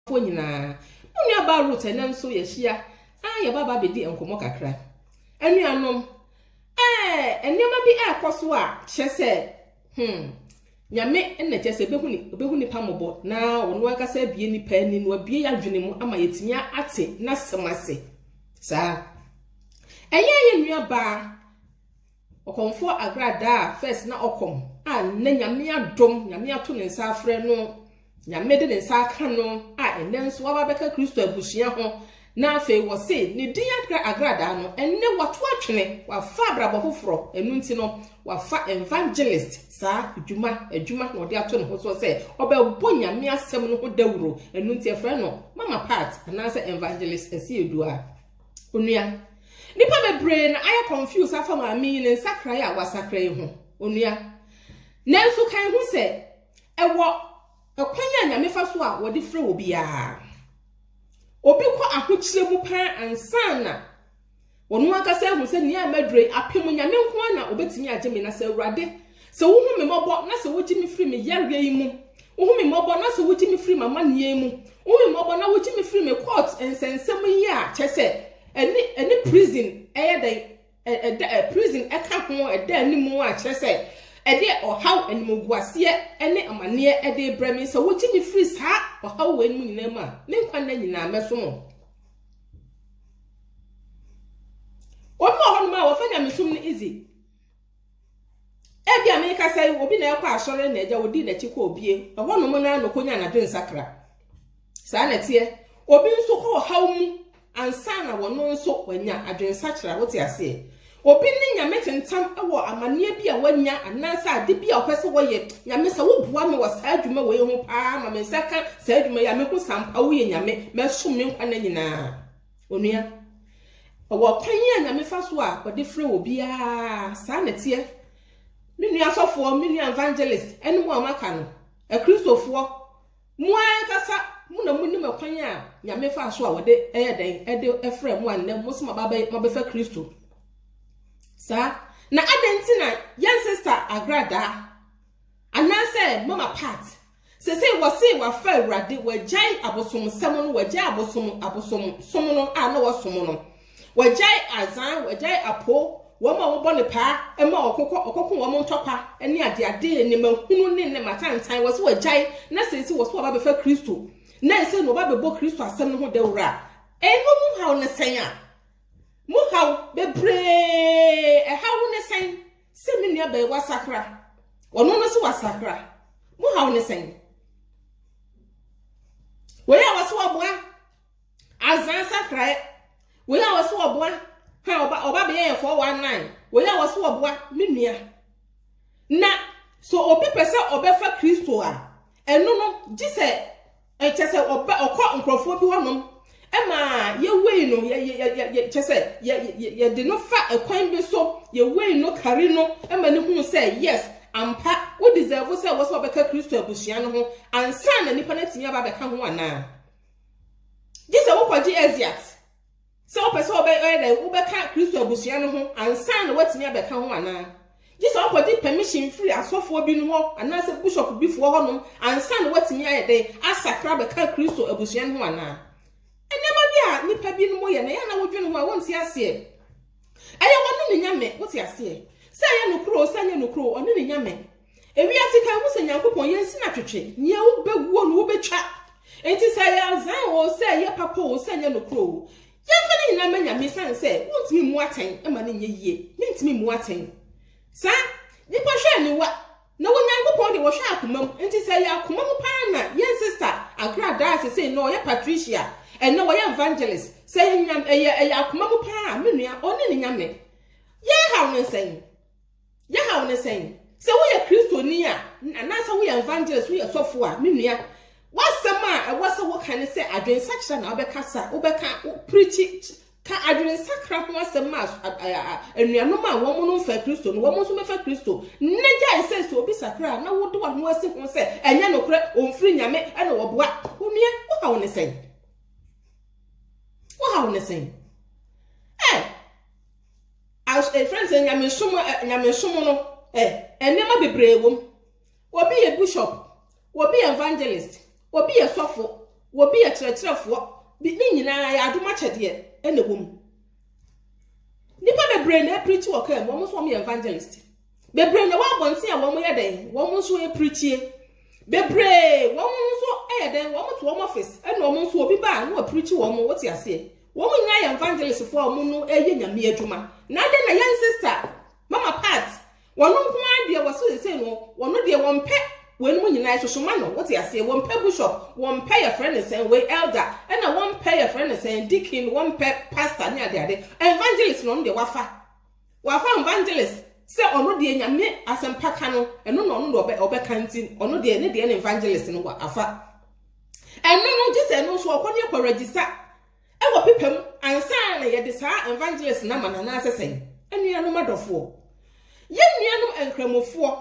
fo nyinaa. Me nua baa Ruth ɛnɛ nso yɛahyia a yɛba ba bɛdi nkɔmmɔ kakra. Anuanom, ɛɛ nneɛma bi ɛrekɔ so a kyerɛ sɛ hmm, nyame na kyerɛ sɛ ɛbɛhu ne ɔbɛhu nipa mmɔbɔ na ɔno ankasa abie nipa ani na wabie yɛadwene mu ama yɛtumi ate n'asɛm ase saa ɛyɛ yɛ nua baa Ɔkɔmfoɔ Agra daa first na ɔkɔm a nnɛ Nyame adom, Nyame ato ne nsa afrɛ no, Nyame de ne nsa aka no a nnɛ nso waba bɛka Kristo abusua ho na afei wɔse ne din Agra Agra daa no, nnɛ wato atwene, wafa abrabɔ foforɔ, ɛno nti no wafa evangelist saa dwuma, adwuma na ɔde ato ne ho soɔ sɛ ɔbɛbɔ Nyame asɛm no ho dawuro, ɛno nti ɛfrɛ no Mama Pat anaasɛ Evangelist Asiedu a. Onua, nnipa bebree na ayɛ confuse afa maame yi ne nsakrae a wasakra yi ho. Onua, nanso kan hu sɛ ɛwɔ ɛkwan a Nyame fa so a wɔde frɛ wɔ biara. Obi kɔ ahokyerɛ mu paa ansa na wɔn ankasa ahu sɛ nea maduro yi apem Nyame nko na obetumi agye me na sɛ Awurade Sɛ wohu me mmɔbɔ na sɛ wogye me firi me yareɛ yi mu, wohu me mmɔbɔ na sɛ wogye me firi m'amanneɛ yi mu, wohu me mmɔbɔ na wogye me firi me court nsɛnsɛm yi a, kyɛ sɛ ɛne ɛne prison ɛyɛ dɛn ɛda ɛ prison ɛka ho ɛda anim a, kyerɛ sɛ ɛde ɔhaw animguaseɛ ne amaneɛ ɛde brɛ me sɛ wogye me firi saa ɔhaw wɔ anim nyinaa mu a me nkwa nna nyinaa mɛso mo obi wɔ hɔ nom a wɔfa nyamesom no easy Ebi a merekasa yi, obi na ɛkɔ asɔre na agya odi n'akyi kɔ obie. Ɛhɔ nom na na okonya anadwo nsakra. Saa na ɛteɛ. Obi nso kɔ ɔhaw mu ansa na wɔn nso wanya adwensakyera. Wote aseɛ? Obi ne nyame tentam wɔ amanneɛ bi a wanya anaasɛ ade bi a ɔpɛ sɛ wɔyɛ. Nyame sɛ woboa me wɔ saa adwuma wei ho paa ma me nsa ka saa adwuma yi a mehu sampa woyɛ nyame mɛsom me nkwa nna nyinaa. Onua, ɛwɔ ɔkwan a Nyame fa so a ɔde frɛ obiara, saa na ɛteɛ. Me nua asɔfoɔ, me nua evangelist, ɛne mo a maka no, akristofoɔ, mo ankasa mo na monim ɛkwan a Nyame fa so a ɔde ɛyɛ dɛn, ɛde ɛfrɛ mo a nnɛ mo so mabɛfa Kristo. Saa, na adɛn nti na yɛn sista agradaa, anaasɛ mama part, Sesei wɔse wɔafa Awurade, wɔagyae abosomsɛm no, wɔagyae abosom, abosom som no a na wɔsom no, wɔagyae azan, wɔagyae apo, wɔn a wɔbɔ ne paa ma ɔkokɔ, ɔkɔko wɔn ntɔkwa ne adeade, nneɛma hunu ne nneɛma atantan, wɔse wɔagyae, na sese wɔse wɔaba bɛfa Kristo, na ɛsɛ na wɔba bɛbɔ Kristo asɛm no ho dawuro a, ɛno mu haw ne sɛn a? Mu haw bebree, ɛhaw ne sɛn? Sɛ me nua bɛyɛ wasakra, ɔno no so wasakra. Mo haw ne sɛn? Wei a wɔso ɔboa azan sakrae. Wei a wɔso ɔboa ha ɔba ɔba bɛyɛ yɛ 419. Wei a wɔso ɔboa me nua. Na so obi pɛ sɛ ɔbɛfa Kristo a, ɛno no gye sɛ Kyerɛ sɛ ɔba ɔkɔ nkurɔfoɔ bi hɔnom ma yɛwei no yɛ yɛ yɛ yɛ kyerɛ sɛ yɛ yɛ yɛde no fa ɛkwan bi so yɛwei no kari no ma ne hunu sɛ yes ampa wo deserve sɛ wɔsɛ ɔbɛka Kristo abusua no ho ansa na nipa no atumi aba abɛka ho anaa gye sɛ wokɔgye Eziat Sɛ wopɛ sɛ ɔyɛ dɛn? Wobɛka Kristo abusua no ho ansa na woatumi abɛka ho anaa? Gye sɛ wokɔgye pɛmihyin firi asɔfoɔ binom hɔ anaasɛ bishop bi foɔ hɔnom ansa na woatumi ayɛ dɛn? Asakra abɛka Kristo abusua no ho anaa? Nneɛma bi a nnipa binom yɛ no, ɛyɛ a na wodwene ho a wonte aseɛ. Ɛyɛ wɔne ne nyame, wote aseɛ? Sɛ ɛyɛ nokorɛ o, sɛ ɛnyɛ nokorɛ o, ɔne ne nyame. Ewiase kan hu sɛ Nyankopɔn yɛ nsi na twetwe, nea wobɛguo no wobɛtwa. Enti sɛ ɛyɛ azan oo, sɛ ɛyɛ papa oo, sɛ ɛnyɛ nokorɛ oo, yɛmfa ne nyinaa mma Nyame esiane sɛ wontumi mmu atɛn ma no nyɛ yie. Mentumi mmu atɛn. Saa Nnipa hwɛ aniwa, na wɔ Nyankopɔn deɛ wɔhwɛ akoma mu. Enti sɛ ɛyɛ akoma mu paa na yɛn sista Agradaa sesei no ɔyɛ Patricia, ɛnnɛ ɔyɛ Evangelist, sɛ ɛyɛ Nyame ɛyɛ ɛyɛ akoma mu paa a, me nua, ɔne ne Nyame. Yɛrehaw no nsɛn? Ne haw ne sɛn? Sɛ woyɛ Kristoni a, anaasɛ woyɛ evangelist, woyɛ sɔfo a, me nua, w'asɛm a ɛwɔ sɛ woka ne sɛ adwensakyera na wobɛkasa, wobɛka, pirikyi, ka adwensakra ho asɛm ma anuanom a wɔn no mfa Kristo no, wɔn nso mɛfa Kristo. Na gyae sɛ sɛ obi sakra na wode w'ano asi ho sɛ ɛnyɛ nokorɛ, ɔmfiri Nyame, ɛna wɔboa. Onua, wohaw ne sɛn? Wohaw ne sɛn? Ɛfrɛ no sɛ nyamesom nyamesom no nneɛma bebree wɔ mu. Obi yɛ bishop, obi yɛ evangelist, obi yɛ sɔfo, obi yɛ kyerɛkyerɛfoɔ. Bi ne nyinaa yɛ adom akyɛdeɛ na ɛwɔ mu. Nnipa bebree na apirikyi wɔ kaa mu, wɔn nso wɔyɛ evangelist. Bebree na ɛwɔ abɔnten a wɔn yɛ dɛn, wɔn nso apirikyie. Bebree, wɔn nso yɛ dɛn, wɔn to wɔn office, ɛna wɔn nso obi ba a na wapirikyi wɔn, wɔte aseɛ. Wɔn nyinaa yɛ evangelistfoɔ a wɔn no yɛ nyame adwuma. Na adɛn na young sister, mama part, wɔn nko ara deɛ wɔso sesei no, wɔn deɛ wɔn pɛ wɔnom nyinaa sosoma no, wɔte aseɛ, wɔn pɛ bishop, wɔn pɛ yɛfrɛ no sɛn, wei elder, ɛna wɔn pɛ yɛfrɛ no sɛn, deacon, wɔn pɛ pastor ne adeade. Evangelist na wɔn deɛ wafa. Wafa evangelist sɛ ɔno deɛ nyame asɛmpaka no ɛno na ɔno deɛ ɔbɛka nti ɔno deɛ ne deɛ ne evangelist no wa afa ɛno no gye sɛ ɛno nso ɔkɔ ne ɛkɔ register ɛwɔ pepa mu ansa na yɛde saa evangelist no ama no anaasɛ sɛn anuanom adɔfoɔ yɛn nuanom nkramofoɔ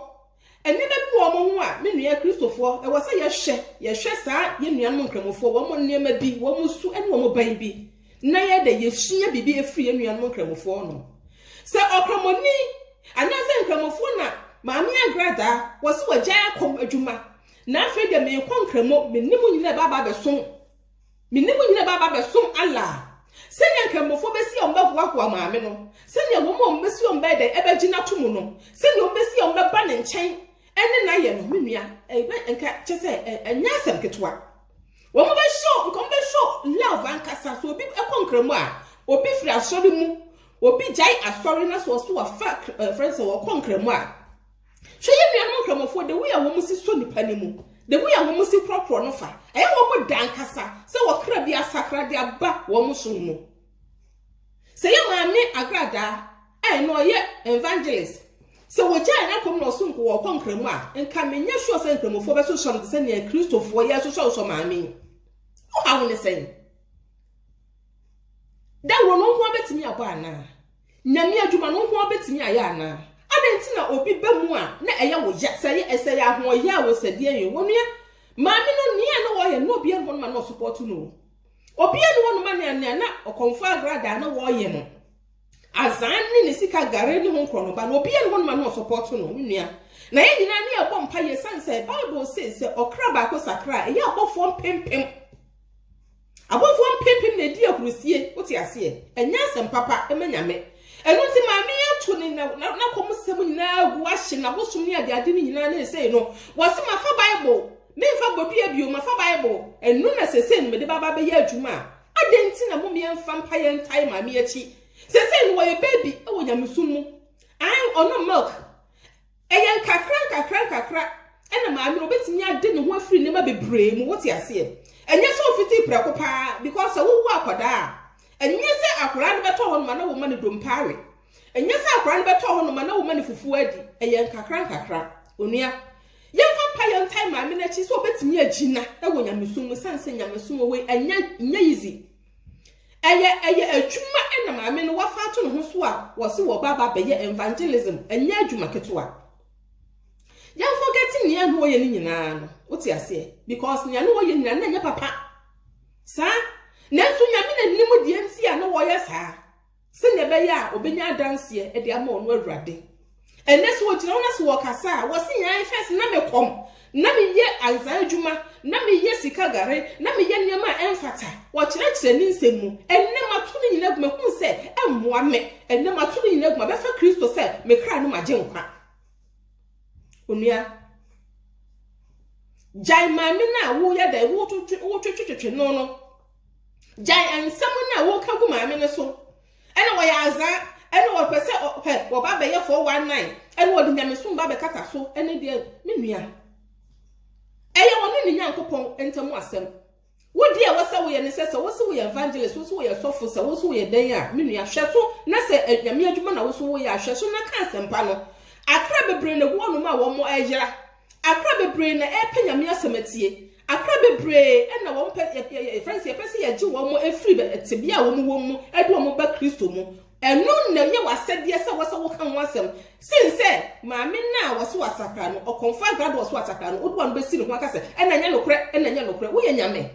Nneɛma bi wɔ wɔn ho a me nua Kristofo, ɛwɔ sɛ yɛhwɛ. Yɛhwɛ saa yɛn nuanom Nkramofoɔ, wɔn nneɛma bi, wɔn su ne wɔn ban bi, na yɛda yɛsua biribi afiri yɛn nuanom Nkramofoɔ no. Sɛ Ɔkramoni anaasɛ Nkramofoɔ na Maame Agradaa, wɔse wagyae akɔm adwuma, na afei deɛ meekɔ Nkramo, me ne mo nyinaa ɛbɛ aba abɛsom. Me ne mo nyinaa bɛba abɛsom Allah. Sɛnea anka mmofra besi a wɔbɛhoahoa maame no, sɛnea wɔn a wɔbesi a wɔbɛyɛ dɛn bɛgye no atom no, sɛnea wɔbesi a wɔbɛba ne nkyɛn ne no ayɛ no, me nua, ɛbɛ nka kyɛ sɛ ɛnyɛ asɛm ketewa. Wɔn bɛhyɛ nka wɔn bɛhyɛ love ankasa. So obi kɔ nkramu a, obi firi asɔre mu, obi gyae asɔre na so ɔso wafa friends a wɔkɔ nkramu a. Hwɛ yɛn nuanom Nkramofoɔ, the way a wɔn si sɔ nipa no mu, the way a wɔn si korɔkorɔ no fa, ɛyɛ wɔn da ankasa sɛ ɔkra bi asakra de aba wɔn som mu. Sɛ yɛ maame agradaa a ɛna ɔyɛ evangelist, sɛ wɔgyae n'akɔm na ɔso nko wɔkɔ nkramu a, nka menyɛ sure sɛ nkramofoɔ bɛsosɔ no te sɛ nea Kristofoɔ yɛsosɔsosɔ maame yi. Wohaw ne sɛn? Dawuro no nkoa bɛtumi abɔ anaa? Nyame adwuma no nkoa bɛtumi ayɛ anaa? Adɛn nti na obi ba mu a na ɛyɛ wo ya? Sɛ ɛyɛ ɛsɛ yɛ ahoɔyɛ a wɔ sɛdeɛ yɛ wɔ nua maame no nea na wɔyɛ na obiara ne hɔ noma na ɔsopɔto no o. Obiara ne hɔ noma nea nea na ɔkɔmfo agradaa na wɔyɛ no azan ne ne sika gare ne ho nkorɔ no ba no obiara ne hɔ noma na ɔsopɔto no me nua. Na yɛn nyinaa ne ɛbɔ mpa yɛ san sɛ Bible se sɛ ɔkra baako sakra a ɛyɛ abɔfoɔ mpempem. Abɔfoɔ mpempem na ɛdi ahurusie, wote aseɛ? Ɛnyɛ asɛm papa ma Nyame. Ɛno nti maame yi ato ne n'akɔm sɛm nyinaa agu ahye n'abosom ne adeade no nyinaa ne sesei no, wɔse mafa Bible, memfa bɔdua bio, mafa Bible, ɛno na sesei no mede baba bɛyɛ adwuma a, adɛn nti na mom yɛmfa mpa yɛntae maame yi akyi? Sesei no wɔyɛ baby wɔ nyamesom mu, ae, ɔnom milk, Ɛyɛ nkakra nkakra nkakra na maame no bɛtumi ade ne ho afiri nneɛma bebree mu, wote aseɛ? Ɛnyɛ sɛ ɔfiti prɛko paa, because sɛ wowo akwadaa a, ɛnyɛ sɛ akwadaa no bɛtɔ hɔ noma na woma no dompa awe. Ɛnyɛ sɛ akwadaa no bɛtɔ hɔ noma na woma no fufuo adi. Ɛyɛ nkakra nkakra. Onua, yɛmfa mpa yɛ ntae maame no akyi sɛ ɔbɛtumi agyina wɔ nyamesom mu, sane sɛ nyamesom wɔ hɔ yi, ɛnyɛ, ɛnyɛ easy. Ɛyɛ ɛyɛ adwuma na maame no wafa ato ne ho so a wɔse wɔba ba bɛyɛ evangelism, ɛnyɛ adwuma ketewa. Yɛn forget nea na wɔyɛ no nyinaa no, wote aseɛ? Because nea na wɔyɛ nyinaa na ɛnyɛ papa. Saa, nanso nyame na nim deɛ nti a na wɔyɛ saa. Sɛnea ɛbɛyɛ a obenya adanseɛ de ama ɔno Awurade. Ɛnnɛ sɛ wɔgyina wo na sɛ wɔkasa a, wɔse yɛn ae fɛs na me kɔm, na meyɛ anzan adwuma, na meyɛ sika gare, na meyɛ nneɛma a ɛmfata. Wɔkyerɛkyerɛ ne nsɛm mu. Ɛnnɛ mato ne nyina gu, mahunu sɛ ɛmmoa me. Ɛnnɛ mato ne nyina gu, mabɛfa Kristo sɛ me kra ne m'agyenkwa. Onua, gyae maame no a woyɛ dɛn, wotwetwetwetwe no no. gyae nsɛm no a woka gu maame no so ɛna wɔyɛ azaa ɛna wɔpɛ sɛ ɔpɛ wɔba bɛyɛ 419 ɛna wɔde nyamesom ba bɛkata so ɛne deɛ me nua ɛyɛ wɔn ne ne nyankopɔn ntam asɛm wodi a wɔsɛ woyɛ ne sɛ sɛ wosi woyɛ evangelist wosi woyɛ sɔfo sɛ wosi woyɛ dɛn a me nua hwɛ so na sɛ eh, nyame adwuma na wosi woyɛ ahwɛ so na ka asɛmpa no akra bebree na egu ɔnom a wɔn ɛyera Akra bebree na ɛrepɛ Nyame asɛm atie. Akra bebree na wɔn pɛ, yɛ, yɛ, yɛfrɛ no sɛ yɛpɛ sɛ yɛgye wɔn firi tebea a wɔn wɔ mu de wɔn ba Kristo mu. Ɛno na ɛyɛ w'asɛdeɛ sɛ wɔsɛ woka ho asɛm. Sen sɛ maame no a wɔso asakra no, ɔkɔmfoɔ agrado a ɔso asakra no, wode w'ano bɛsi ne ho aka sɛ, ɛna ɛnyɛ nokorɛ, ɛna ɛnyɛ nokorɛ. Woyɛ Nyame.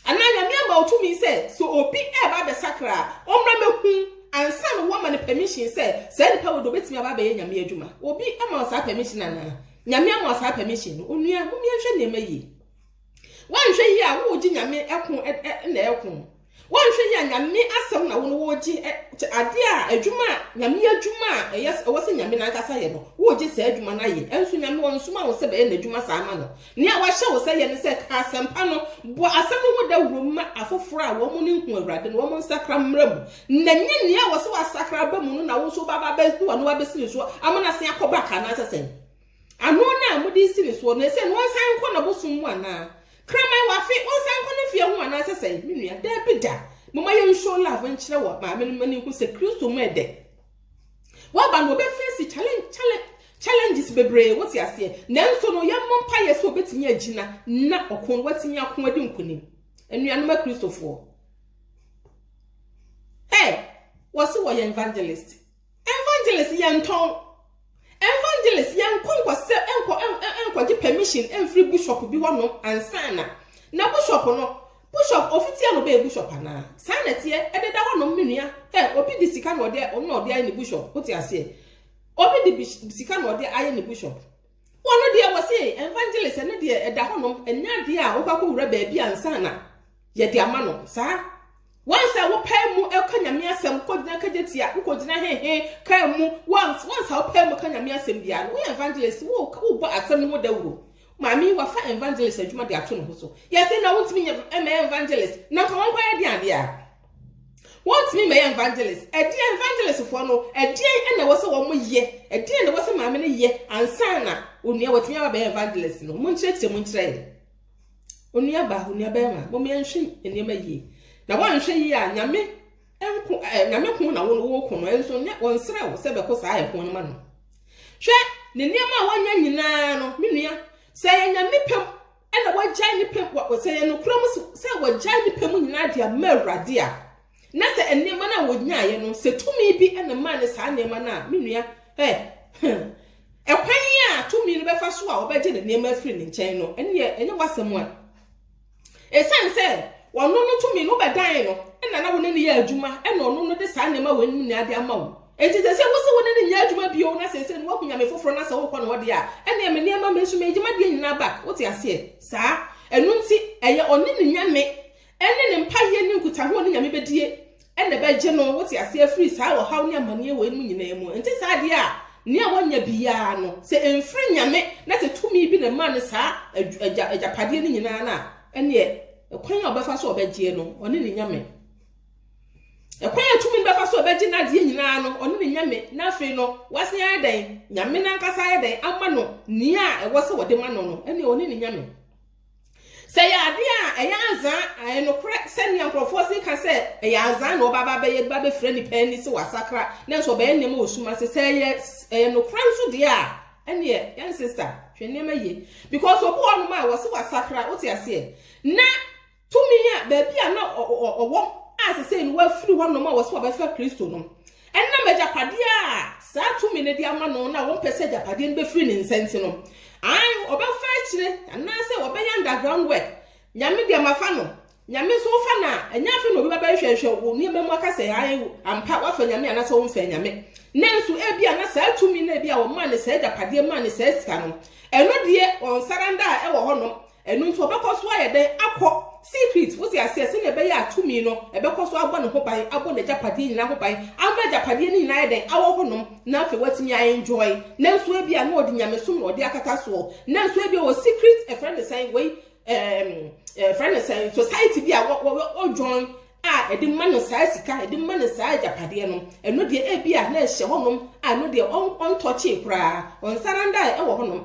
Anaa Nyame ama wo tumi sɛ sɛ obi reba abɛsakra a, ɔmmra mɛhu ansa na woama no permission sɛ saa nipa wei deɛ obɛtumi aba abɛyɛ Nyame adwuma. Obi ama wo saa permission anaa? Nyame ama wo saa permission no? Onua, mom yɛnhwɛ nneɛma yie. Woanhwɛ yie a, wogye Nyame ɛko na ɛko. Wɔnhwɛ yi a Nyame asɛm na wone wɔregye ɛ kyɛ adeɛ a adwuma a Nyame adwuma a ɛyɛ ɛwɔ sɛ Nyame nankasa yɛ no woregye saa adwuma no ayɛ ɛnso Nyame ɔnsoma wo sɛ bɛyɛ nadwuma saa ma no nea wahyɛ wo sɛ yɛ ne sɛ ka asɛmpa no bɔ asɛm no ho dawuro ma afoforɔ a wɔn ne nhu Awurade no wɔn nsakra mmra mu na nyɛ nea ɛwɔ sɛ wasakra aba mu no na wo nso wobɛba abɛsi w'ano abɛsi ne soɔ ama no asen akɔ back anaasɛ sɛn Ano no a mode siri soɔ no, ɛsɛ ɔnsan nkɔ n'abosom mu anaa? Kraman wɔ afe, ɔnsan nkɔ ne fie ho anaa sɛ sɛn? Me nua, daabi da. Momma yɛnshow love nkyerɛ wɔ maame no mma no nhu sɛ Kristo mu ɛdɛ. Waba no, ɔbɛfeesi challenge, challenge, challenges bebree, wote aseɛ. Nanso no, yɛmmɔ mpaeɛ sɛ ɔbɛtumi agyina na ɔko no watumi ako adi nkonim. Anuanom Akristofoɔ, Hey, wɔse wɔyɛ evangelist. Evangelist yɛntɔn Evangelist yɛnkɔ nkɔ sɛ nkɔ nkɔ gye permission mfiri bishop bi hɔ nom ansana na bishop no bishop ofitia no bɛyɛ bishop anaa saa na teɛ ɛde da hɔ nom me nua ɛ obi de sika na ɔde ɔno na ɔde ayɛ ne bishop wote aseɛ obi de sika na ɔde ayɛ ne bishop Wɔno deɛ wɔse evangelist ɛno deɛ ɛda hɔ nom ɛnyɛ adeɛ a wobɛkɔ wura baabi ansa na yɛde ama no saa wansa wopaa mu ɛka nyame asɛm kɔgyina kagye tia wokɔgyina hehe kaa mu wansa wopaa mu ka nyame asɛm biara no woyɛ evangelist wobɔ asɛm no ho dawuro maame wafa evangelist adwuma de ato ne ho so yɛse na wontumi nyɛ ɛmɛ evangelist na nka wɔnkɔyɛ de adeɛ a Wɔntumi mmɛyɛ evangelist. Ɛdeɛn evangelist foɔ no, ɛdeɛn ɛna ɛwɔ sɛ wɔn yɛ, ɛdeɛn na ɛwɔ sɛ maame no yɛ ansa na onua wɔtumi aba bɛyɛ evangelist no. Mo nkyerɛkyerɛ mu nkyerɛ yɛ. Onua ba, onua bɛrima, mo mmea nhwɛ nneɛma yie. Na wɔanhwɛ yie a nyame nko ɛɛ nyame ko na wɔn wɔko no ɛnso nyɛ wɔn nsrɛ wo sɛ bɛko saa ɛko no ma no. Hwɛ ne nneɛma a wɔnyɛ nyinaa no, me nua sɛ yɛ nyame pɛm. na wɔagyae ne pɛ, sɛ yɛ nokorɛ mu sɛ wɔagyae ne pɛ mu nyinaa de ama Awurade a, na sɛ nneɛma no a wɔnyaeɛ no, sɛ tumi bi na maa ne saa nneɛma no a, me nua, ɛ, ɛkwan yi a tumi no bɛfa so a wɔbɛgye ne nneɛma afiri ne nkyɛn no, ɛneɛ ɛnyɛ w'asɛm a. Ɛsiane sɛ ɔno no tumi no bɛdan no, ɛna na wo ne no yɛ adwuma, ɛna ɔno no de saa nneɛma wɔ anim nyinaa de ama wo. Enti ɛsɛ sɛ wose wo ne no nyɛ adwuma bio na seesei no woahu nyame foforɔ na sɛ worekɔ ne hɔ deɛ a, ɛnneɛ me nneɛma, me nso mɛgye m'adeɛ nyinaa back. Wote aseɛ? Saa. Ɛno nti, ɛyɛ ɔne ne nyame ne ne mpaeɛ ne nkutaho a ɔne nyame bɛdie na ɛbɛgye no, wote aseɛ, afiri saa ɔhaw ne amanneɛ wɔ mu nyinaa mu. Ɛnte saa deɛ a, nea wanya biara no, sɛ ɛmfiri nyame na sɛ tumi bi na ɛmaa no saa agyapadeɛ no nyinaa no a, ɛnneɛ kwan a ɔbɛfa so a ɔbɛgyeɛ no, ɔne ne nyame. Ɛkwan a ɛtumi no bɛfa so a ɔbɛgye n'adeɛ nyinaa no, ɔne ne nyame, na afei no, wasan ayɛ dɛn? Nyame no ankasa ayɛ dɛn? Ama no nea a ɛwɔ sɛ wɔde ma no no, ɛne ɔne ne nyame. Sɛ yɛ adeɛ a ɛyɛ anzaa, ɛyɛ nokorɛ sɛnea nkurɔfoɔ se ka sɛ ɛyɛ anzaa na ɔba ba bɛyɛ ba bɛfira nipa ani sɛ wasakra, nanso ɔbɛyɛ nneɛma wɔ sum ase. Sɛ ɛyɛ ɛyɛ nokorɛ nso deɛ a, ɛneɛ yɛn sista hwɛ nneɛma yie because obi wɔ nom a wɔse wasakra, wote aseɛ na Tumi a, baabi a na ɔwɔ a sesei no wafiri hɔnom a wɔsɛ wɔbɛfa Kristo no, ɛnam agyapadeɛ a saa tumi no de ama no na wɔmpɛ sɛ agyapadeɛ no bɛfiri ne nsa nti no, ae, ɔbɛfa akyire, anaasɛ ɔbɛyɛ underground work, Nyame deɛ mafa no, Nyame nso wofa no a, ɛnyɛ afei na obi bɛba nhwɛnhwɛ wo nneɛma mu aka sɛ ae, ampa, woafa Nyame anaasɛ womfaa Nyame. Nanso, ebia na saa tumi no a ebia wɔmaa no saa agyapadeɛ maa no saa sika no, ɛno deɛ ɔnsaranda a ɛwɔ hɔnom, Ɛno nti ɔbɛkɔ so ayɛ dɛn akɔ secret, wote aseɛ, sɛnea ɛbɛyɛ a tumi no ɛbɛkɔ so abɔ ne ho ban, abɔ n'agyapadeɛ nyinaa ho ban, ama agyapadeɛ no nyinaa ayɛ dɛn, awɔ hɔnom, na afei watumi a enjoy, nanso ebia na ɔde nyamesom na ɔde akata soɔ, nanso ebia wɔ secret, ɛfrɛ no sɛn, wei, ɛɛm, ɛfrɛ no sɛn, society bi a wɔ, wɔ, wɔ, wɔ join, a ɛde ma no saa sika, ɛde ma no saa agyapadeɛ no, ɛno deɛ ebia na ɛhyɛ hɔnom, a ɛno deɛ ɔn, ɔntɔkyee koraa, ɔnsarandaae ɛwɔ hɔnom.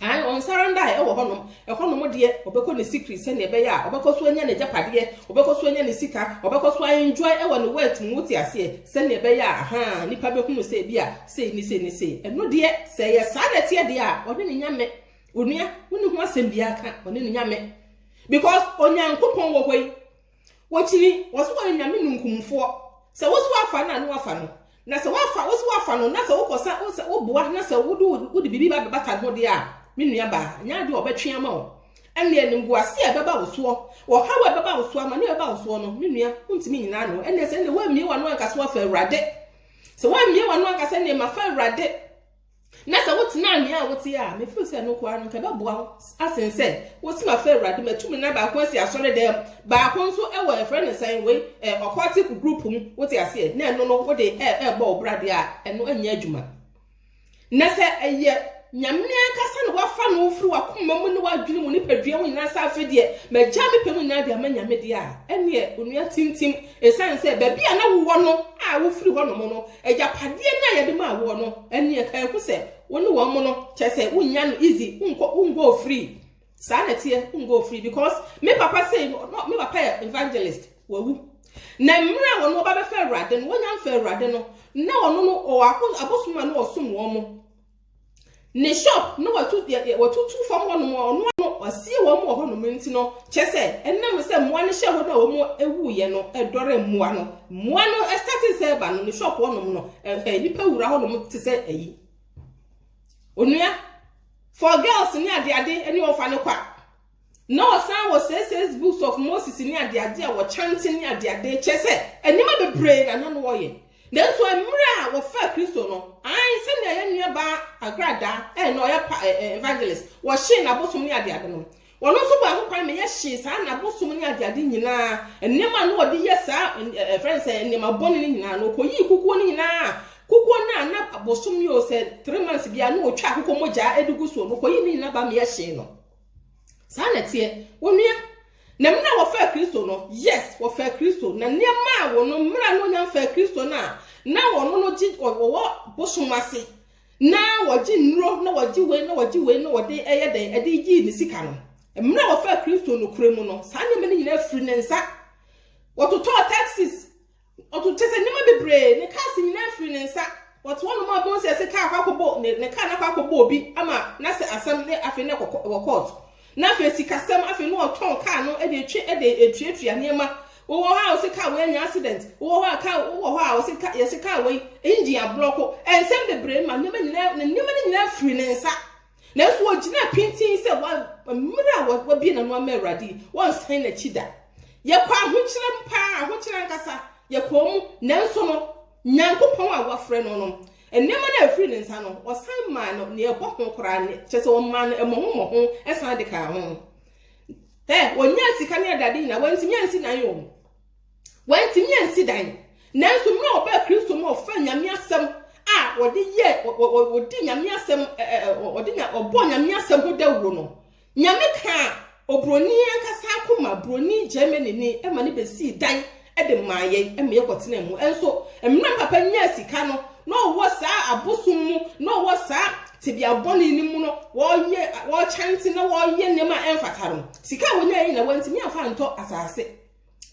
Ae, ɔnsare ndae wɔ hɔnom. Hɔnom deɛ, ɔbɛkɔ ne sikiri sɛdeɛ ɛbɛyɛ a ɔbɛkɔ so anya n'agyapadeɛ, ɔbɛkɔ so anya ne sika, ɔbɛkɔ so a-enjoy wɔ ne wealth mu, wote aseɛ, sɛdeɛ ɛbɛyɛ a, ahaa, nnipa bɛhunu sɛ bi a sei ne sei ne sei. Ɛno deɛ, sɛ ɛyɛ saa na ɛteɛ deɛ a, ɔne ne Nyame. Onua, wonni ho asɛm biara ka, ɔne ne Nyame. Because, Onyankopɔn wɔ hɔ yi. Wɔkyini, wɔse wɔyɛ Nyame nunkumfoɔ. Sɛ wose woafa no a, ne woafa no. Na sɛ woafa, wose woafa no, na sɛ wokɔsa, wosɛ, woboa, na sɛ wode, wode biribi ba bɛbata ne ho deɛ a, me nuabaa, nyɛ adeɛ a wɔbɛtwe ama wo. Ɛnneɛ animguaseɛ a ɛbɛba wo soɔ, ɔhaw a ɛbɛba wo soɔ, amaneɛ a ɛbɛba wo soɔ no, me nua, wontumi nnyina ano. Ɛnneɛ sɛ ɛnneɛ woammie w'ano anka sɛ woafa Awurade. Sɛ woammie w'ano anka sɛ ɛnneɛ mafa Awurade. Na sɛ wotenaa nea wote a, mefiri sɛ ɛno nko ara no nka ɛbɛboa wo asen sɛ wosi ma fɛ awurade matu me nan baako asi asɔre dɛm baako nso wɔ ɛfrɛ ne sɛn wei ɔkɔtik group mu wote aseɛ na ɛno no wode ɛbɔ wo bradeɛ a ɛno ɛnyɛ adwuma na sɛ ɛyɛ nyame ankasa na wafa no wofiri wakoma mu ne wadwene mu nipadua ho nyinaa sɛ afei deɛ magya me pɛ mu nyinaa de ama nyame deɛ a ɛneɛ onua tintim Esiane sɛ baabi a na wowɔ no a wofiri hɔnom no, agyapadeɛ no a yɛde maa woɔ no, ɛnneɛ ɛka ɛho sɛ wo ne wɔn mo no, kyerɛ sɛ wonnya no easy, wonkɔ, wongo free. Saa na ɛteɛ, wongo free because me papa sei no, no, me papa yɛ evangelist, wawu. Na mmerɛ a wɔn wɔba bɛfa Awurade no, wɔnya mfa Awurade no, na wɔn no, wɔwɔ abosom a na wɔsom wɔn mo. Ne shop no watu watutu fam hɔnom a ɔno ano ɔsie wɔn wɔ hɔnom nti no kyɛ sɛ ɛnam sɛ mmoa no hyɛ hɔ no a wɔn ewu yɛ no ɛdɔre mmoa no mmoa no ɛsate sɛ ɛba no ne shop hɔnom no ɛhɛ nipa wura hɔnom te sɛ ɛyi onua for girls ne adeade ne wɔfa no kwa. Na ɔsan wɔ Sesay's Books of Moses ne adeade a wɔkyɛnte ne adeade, kyerɛ sɛ, nneɛma bebree na na wɔyɛ. Nanso mmerɛ a wɔfaa Kristo no, ae, sɛnea yɛn nuabaa Agradaa, ɛɛ, na ɔyɛ pa, ɛɛ, evangelist, wɔhyee n'abosom ne adeade no. Ɔno nso bɔɔ ho kwan ma yɛhyee saa n'abosom ne adeade nyinaa, nneɛma a na wɔde yɛ saa, ɛɛ, ɛfrɛ no sɛ nneɛma bɔne no nyinaa, na ɔkɔyii kukuo no nyinaa, kukuo no a na bosom yɛ o sɛ three months biara na ɔtwa akokɔ mogyaa de gu soɔ no, ɔkɔyii ne nyinaa baa ma yɛhyee no. saa na ɛteɛ onua na mmerɛ a wɔfaa kristo no yes wɔfaa kristo na nneɛma a wɔn mmerɛ a wɔnya faa kristo no a na wɔn no gye wɔwɔ bosom ase na wɔgye nnuro na wɔgye wei na wɔgye wei na wɔde ɛyɛ dɛn ɛde gye ne sika no mmerɛ a wɔfaa kristo no kura mu no saa nneɛma no nyinaa firi ne nsa wɔtotɔɔ taxis Ɔto kyɛ sɛ nneɛma bebree, ne cars nyinaa firi ne nsa. Ɔte hɔnom a Bonsu se kaa kɔ akɔbɔ ne ne car no akɔ akɔbɔ obi ama na sɛ asɛm ne afei na ɛkɔ wɔ court. Na afei sikasɛm afei na ɔtɔn car no de etwe de etuatua nneɛma. Wowɔ hɔ a ɔse car wei anya accident. Wowɔ hɔ a car wowɔ hɔ a ɔse car yɛse car wei engine ablɔko. Nsɛm bebree ma nneɛma nyinaa ne nneɛma no nyinaa firi ne nsa. Nanso ɔgyinaa pintinn sɛ mmerɛ a wabie n'ano ama Awurade yi, wɔnsan n'akyi da. Yɛkɔ ahokyerɛ mu paa, ahokyerɛ ankasa, yɛkɔɔ mu, nanso no, Nyankopɔn a wafrɛ no no, nneɛma no a ɛfiri ne nsa no, ɔsan maa no nea ɛbɔ ho koraa, kyerɛ sɛ ɔmaa no mmɔho mmɔho san de kaa ho. Ɛ, ɔnyaa sika ne adade nyinaa, wantumi ansi nan o. Wantumi ansi dan. Nanso mmerɛ a ɔbaa Kristo mu a ɔfaa Nyame asɛm a wɔde yɛ wɔdi Nyame asɛm wɔde nya ɔbɔ Nyame asɛm ho dawuro no Nyame kaa obroni ankasa akoma broni Germany ni ɛma ne bɛsii dan ɛde maa yɛn ɛma yɛkɔtena mu ɛnso mmerɛ papa nyaa sika no na ɔwɔ saa abosom mu na ɔwɔ saa tebea bɔne no mu no wɔyɛ wɔkyɛnte na wɔyɛ nneɛma ɛmfata no sika a wɔnya yɛ nyina wɔntumi amfa ntɔ asase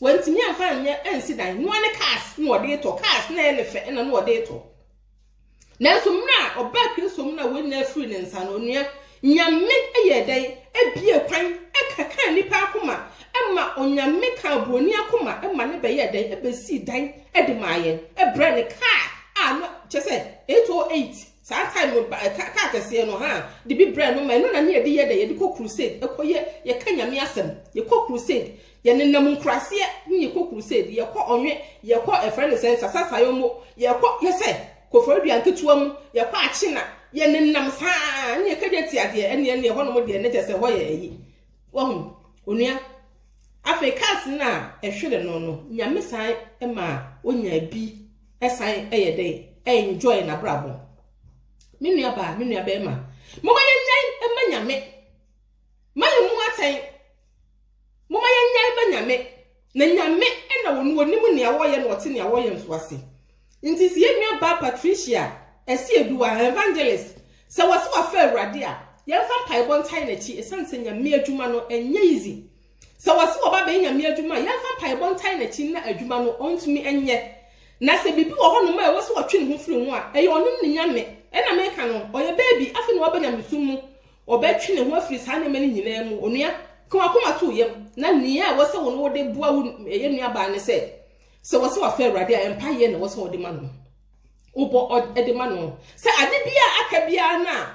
Wantumi amfa anyɛ ansi dan. Noa ne cars na ɔde retɔ. Cars na ɛyɛ ne fɛ na na ɔde retɔ. Nanso mmerɛ a ɔbaa Kristo mu na wɔnya afiri ne nsa no, onua, Nyame yɛ dɛn? Ebie kwan, ɛkɛkaa nnipa akoma, ɛma Onyame kaa buroni akoma, ɛma ne bɛyɛ dɛn? Ɛbɛsii dan de maa yɛn, ɛbrɛ ne kaa a no, kyɛ sɛ 808, saa time no, kaa kɛseɛ no, ha, de bi brɛ no ma ɛno na ne yɛde yɛ dɛn? Yɛde kɔ crusade, ɛkɔ yɛ, yɛka Nyame asɛm, yɛkɔ crusade, Yɛnenam nkuraseɛ ne yɛkɔ crusade, yɛkɔ ɔnwe, yɛkɔ ɛfrɛ ne sɛn sasasayɔmmo, yɛkɔ yɛsɛ koforidua nketewa mu, yɛkɔ akyena, yɛnenam saa ne yɛkagya ti adeɛ ɛne ɛne ɛhɔ nom deɛ ne kyɛ sɛ hɔ yɛ ayi. Wahu onua. Afei cars no a ɛhwere no no nyame san ma onya bi ɛsan ɛyɛ dɛn enjoy n'abrabɔ. Me nua baa me nua bɛrima. Moma yɛnwɛn ɛma nyame. Ma yɛn mu atɛn. Momma yɛnnyae ba Nyame, na Nyame na ɔno ɔnim nea wɔreyɛ na ɔte nea wɔreyɛ nso ase. Nti sɛ yɛn nua baa Patricia Asieduwa, evangelist, sɛ wɔse wafa Awurade a, yɛmfa mpaebɔ ntae n'akyi ɛsiane sɛ Nyame adwuma no ɛnyɛ easy. Sɛ wɔse wɔba abɛyɛ Nyame adwuma a, yɛmfa mpaebɔ ntae n'akyi na adwuma no ɔntumi ɛnyɛ. Na sɛ biribi wɔ hɔnom a ɛwɔ sɛ ɔtwe ne ho firi ho a, ɛyɛ ɔno ne Nyame na meka no, ɔyɛ baabi afei na waba Nyamesom mu, Ɔbɛtwe ne ho afiri saa nneɛma no nyinaa mu. Onua, ka w'akoma to wo yam, na nea ɛwɔ sɛ wo ne wo de boa wo yɛn nuabaa ne sɛ, sɛ wɔsɛ wɔfrɛ Awurade a, mpaeɛ na ɛwɔ sɛ wɔde ma no. Wobɔ de ma no sɛ ade biara aka biara no a,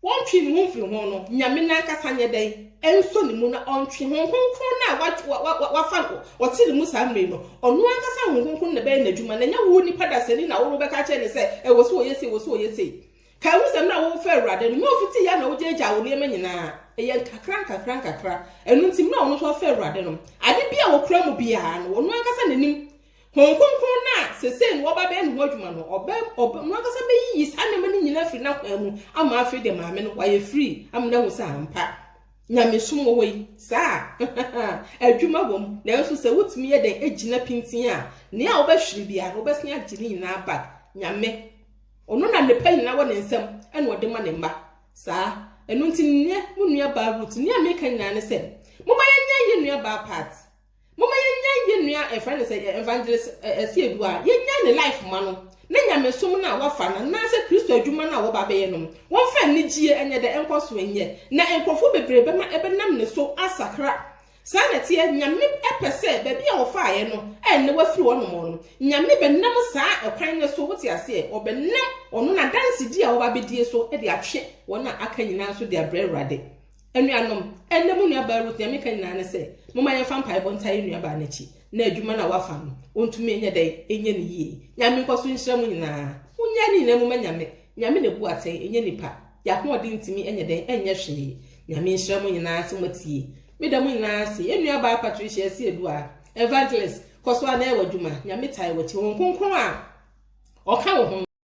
wɔntwe ne ho mfiri ho no, Nyame no ankasa nyɛ dɛn ɛnsɔ ne mu na ɔntwe Honhom Kronkron no a wafa ɔte ne mu saa mmerɛ yi no, ɔno ankasa Honhom Kronkron na ɛbɛyɛ n'adwuma, na ɛnyɛ wo nipa dasani na wobɛka kyerɛ ne sɛ ɛwɔ sɛ ɔyɛ sei, ɛwɔ sɛ ɔyɛ sei. Kae wo nsɛm no a worefrɛ Awurade no, na ofitiiɛ ara na wogyaagyaa wo nneɛma nyina ara. Ɛyɛ nkakra nkakra nkakra. Ɛno nti, mmerɛ a ɔno nso afrɛ Awurade no, ade biara a wɔkura mu biara no, ɔno ankasa na nim. Honhom Kronkron no a seesei na wɔreba abɛyɛ ne ho adwuma no, ɔbɛ, ɔbɛ, ɔno ankasa bɛyiyi saa nneɛma no nyina ara afiri n'akwan mu ama afei deɛ maame no wayɛ firii ama no ahu sɛ ampa, nyamesom wɔ hɔ yi, saa a, adwuma wɔ mu. Nanso sɛ wotumi yɛ dɛn gyina pintinn a, nea wobɛhwere biara no, wobɛsane agye ne nyina ara back. Nyame. Ɔno na nnepa nyinaa wɔ ne nsam na ɔde ma ne mma. Saa. Ɛno nti nnɛ, mo nuabaa Ruth, nea meka nyinaa ne sɛ, momma yɛnnyae yɛn nuabaa Pat. Momma yɛnnyae yɛn nua a yɛfrɛ no sɛ Evangelist Asiedu a, yɛnnyae ne life mma no, ne nyamesom no a wafa no anaasɛ Kristo adwuma no a wɔba abɛyɛ no. Wɔmfa anigyie nyɛ dɛ, nkɔso nyɛ, na nkurɔfoɔ bebree bɛma ɛbɛnam ne so asakra Saa na ɛteɛ, Nyame pɛ sɛ baabi a wɔfaaɛ no ɛnnɛ wafiri hɔ nom no, Nyame bɛnam saa ɛkwan no so, wote aseɛ, ɔbɛnam ɔno n'adansedie a wɔba abɛdie so de atwe wɔn a aka nyinaa nso de abrɛ Awurade. Anuanom, ɛnnɛ mo nuabaa Ruth, deɛ meka nyinaa ne sɛ, momma yɛmfa mpaebɔ ntaa yɛn nuabaa no akyi, na adwuma no a wafa no, ɔntumi nyɛ dɛn, nyɛ no yie. Nyame nkɔso nhyira mo nyinaa. Monyɛ ade nyinaa mu ma Nyame, Nyame na ebu atɛn, ɛnyɛ nipa. Yɛ ahoɔden ntumi nyɛ dɛn nyɛ hwee. Nyame nhyira mo nyinaa sɛ moatie. Meda mo nyinaa ase. Yɛn nua baa Patricia Asieduaa, Evangelist, kɔ so ara na yɛ w'adwuma. Nyame taa yɛ w'akyi. Honhom Kronkron a Ɔka wo ho no.